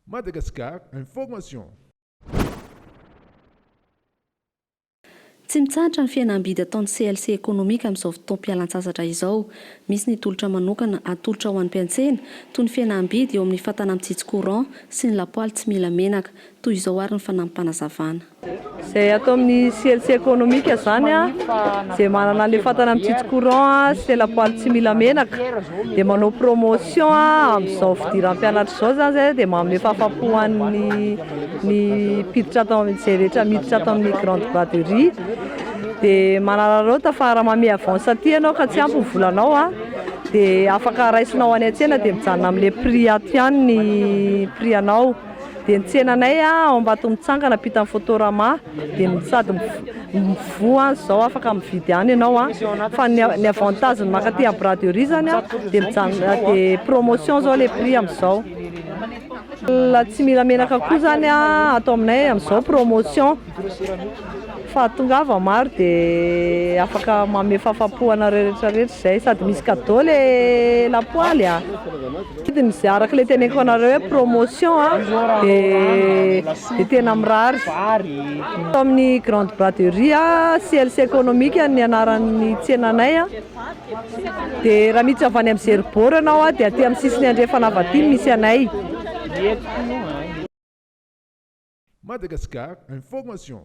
Madagascar Information. Tsy mitsahatra ny fihenam-bidy ataon'ny CLC Economic amin'izao fotoam-pialan-tsasatra izao. Misy ny tolotra manokana atolotra ho an'ny mpiantsena, toy ny fihenam-bidy eo amin'ny fatana mitsitsy courant sy ny lapoaly tsy mila menaka. Toy izao ary ny fanampim-panazavana. Izay ato amin'ny CLC ekonomika izany a, izay manana an'ilay fatana mitsitsy courant a, sy ilay lapoaly tsy mila menaka dia manao promotion a, amin'izao fidiram-pianatra izao izany izay dia manome fahafaham-po ho an'ny ny mpiditra ato amin'ny, izay rehetra miditra ato amin'ny grande braderie, dia manararaota fa raha manome avance aty ianao ka tsy ampy ny volanao a, dia afaka raisinao any an-tsena dia mijanona amin'ilay prix ato ihany ny prix anao. Dia ny tsenanay ao Ambatomitsangana ampitan'ny Fotorama dia sady mivoha any izao afaka mividy any ianao an! Fa ny ny avantage ny mankaty amin'ny braderie izany an dia mijanona dia promotion izao ilay prix amin'izao. Tsy mila menaka koa izany an atao aminay amin'izao promotion. Fa tongava maro de afaka manome fahafahampo anareo rehetra rehetra izay sady misy cadeau le lapoaly a! Vidiny izay araka le teneniko anareo hoe promotion a de de tena mirary eto amin'ny grande braderie a CLC economique no anaran'ny tsenanay a de raha miditra avy any amin'ny zero bord ianao a de aty amin'ny sisiny andrefana avy aty no misy anay. Madagascar Information.